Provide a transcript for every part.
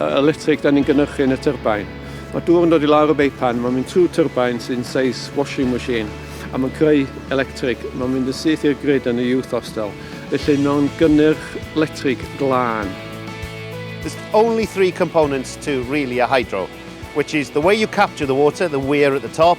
electric da ni'n gynhyrchu yn y tyrbain. Mae dŵr yn dod i lawr y beipan, mae'n mynd trwy tyrbain sy'n seis washing machine a mae'n creu electric. Mae'n mynd yn syth i'r grid yn y youth hostel, felly mae'n gynnyrch letrig glân. There's only three components to really a hydro, which is the way you capture the water, the weir at the top,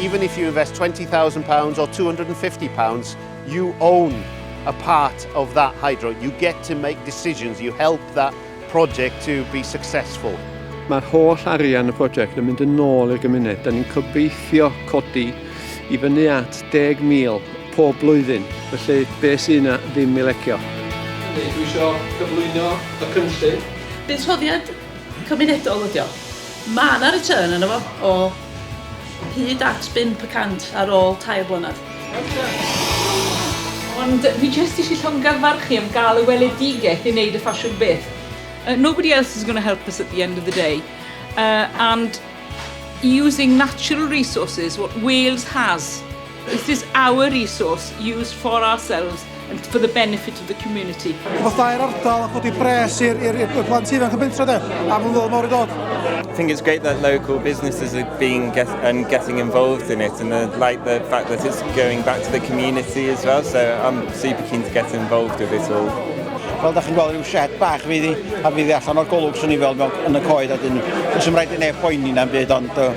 Even if you invest £20,000 or £250, you own a part of that hydro. You get to make decisions, you help that project to be successful. Mae'r holl arian y prosiect yn mynd yn ôl i'r gymuned. Da ni'n cobeithio codi i fyny at 10,000 pob blwyddyn, felly be sy'n yna ddim i lecio. Dwi isio cyflwyno y cynllun. Buddsoddiad cymunedol ydi o. Mae 'na return arno fo o Hyd at bump y cant ar ôl tair blynedd. Ond fi jyst isie llongyfarchu am gael y weledigaeth i wneud y ffasiwn byth. Uh, nobody else is going to help us at the end of the day. Uh, and using natural resources, what Wales has, This is our resource used for ourselves and for the benefit of the community. Fatai'r ardal a chodi pres i'r plant ifanc yn bentro de, a mae'n ddod mor i dod. I think it's great that local businesses are being get, and getting involved in it and the, like the fact that it's going back to the community as well so I'm super keen to get involved with it all. Wel, da chi'n gweld rhyw shed bach fi ddi, a fi ddi allan o'r golwg sy'n ni fel mewn yn y coed a dyn, os ymwneud i'n ei phoeni na'n byd ond uh,